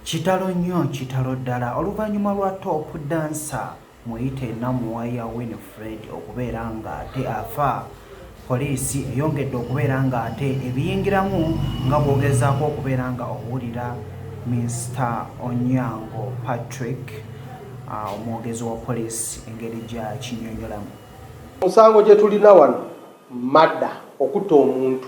Kitalo nnyo kitalo ddala oluvannyuma lwa Top Dancer muyite Namuwaya Winfred okubeera ng'ate afa, Poliisi eyongedde okubeera ng'ate ebiyingiramu nga bw'ogezaako okubeera nga owulira Mister Onyango Patrick omwogezi wa Poliisi engeri gy'akinyonyolamu. Omusango gye tulina wano mada okutta omuntu.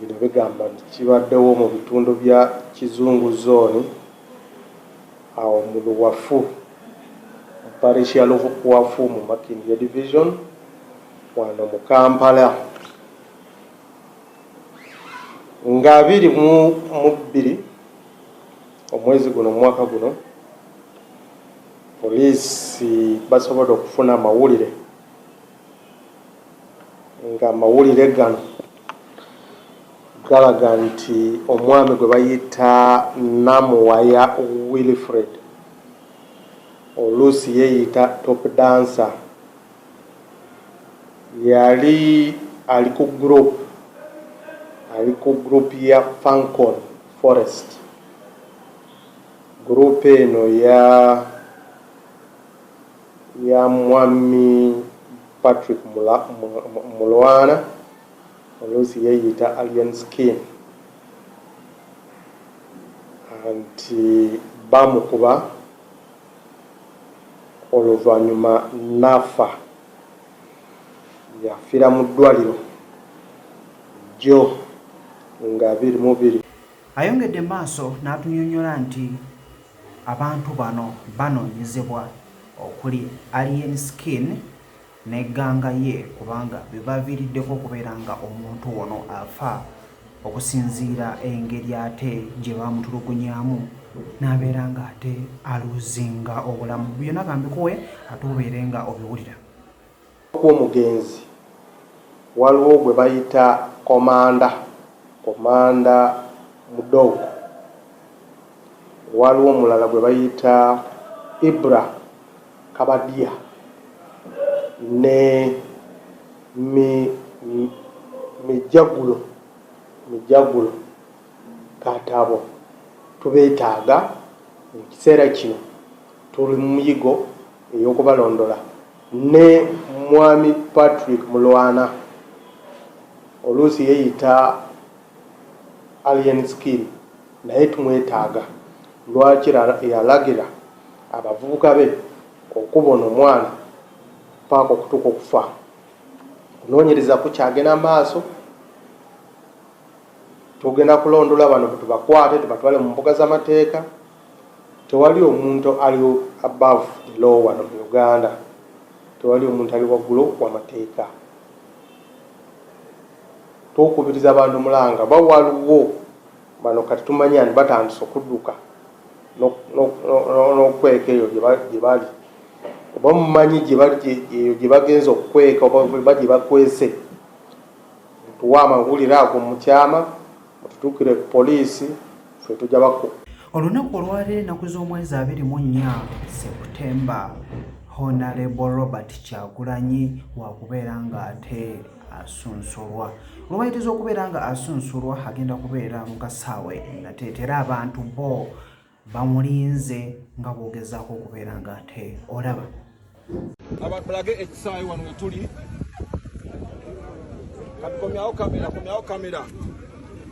Bino bigamba nti kibaddewo mu bitundu bya Kizungu Zooni awo mu Luwafu mu Parish ya Luwafu mu Makindye Division wano mu Kampala nga abiri mu mu bbiri omwezi guno omwaka guno Poliisi basobodde okufuna amawulire ng'amawulire gano galaga nti omwami gwe bayita Namuwaya Wilfred oluusi yeeyita Top Dancer yali ali ku group ali ku group ya Fancon Forest group eno ya ya Mwami Patrick Mulwana oluusi yeeyita Alien Skin nti baamukuba oluvannyuma n'afa. Yafiira mu ddwaaliro jjo nga biri mu biri. Ayongedde maaso n'atunyonyola nti abantu bano banoonyezebwa okuli Alien Skin ne gganga ye kubanga be baaviiriddeko okubeera nga omuntu ono afa okusinziira engeri ate gye baamutulugunyamu n'abeera nga ate aluuzinga obulamu. Byona ka mbikuwe ate obeere nga obiwulira. kw'omugenzi waliwo gwe bayita Komanda, Commander Mudogo, waliwo omulala gwe bayita Ibra Kabadia ne Mi, Mi, Mijagulo, Mijagulo Katabo. Tubeetaaga mu kiseera kino. Tuli mu muyigo ey'okubalondola. Ne Mwami Patrick Mulwana oluusi yeyita Alien Skin naye tumwetaaga lwaki yalagira abavubuka be okuba ono mwana paaka okutuuka okufa. Okunoonyereza kukyagenda maaso, tugenda kulondola bano tubakwate tubatwale mu mbuga z'amateeka. Tewali omuntu ali above the law wano mu Uganda. Tewali omuntu ali waggulo wa mateeka. Twokubiriza bantu mulanga oba waliwo bano kati tumanyi and batandise okuduka nokweka eyo gyebali oba mumanyi eyo gyebagenza okukweka oba gyebakwese mutuwe amawulire ago mukyama. Mututukire ku poliisi ffe tujja bakuba. Olunaku olwaleero ennaku z'omwezi abiri mu nnya Septemba, Honalebo Robert Kyagulanyi wakubeera ng'ate asunsulwa. Olwayitiza okubeera nga asunsulwa agenda kubeera mu kasaawe nateetera abantu bo bamulinze nga bwogezaako okubeera nga ate olaba abatulage ekisaayi wano wetuli katukomyawo kamera komyawo kamera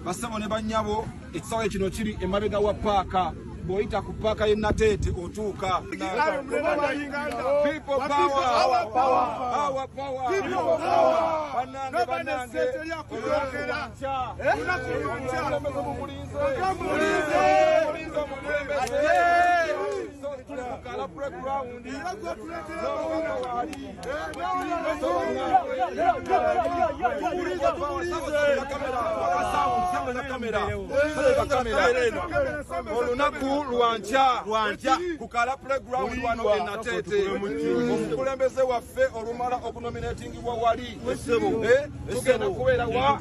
basebo ne banyabo ekisaawe kino kiri emabega wa paaka bwoyita ku paaka ye nateete otuuka olunaku lwankya ku kala playground wano e nateete omukulembeze waffe olumala okunominatingibwa wali eh, tugenda kubeera wa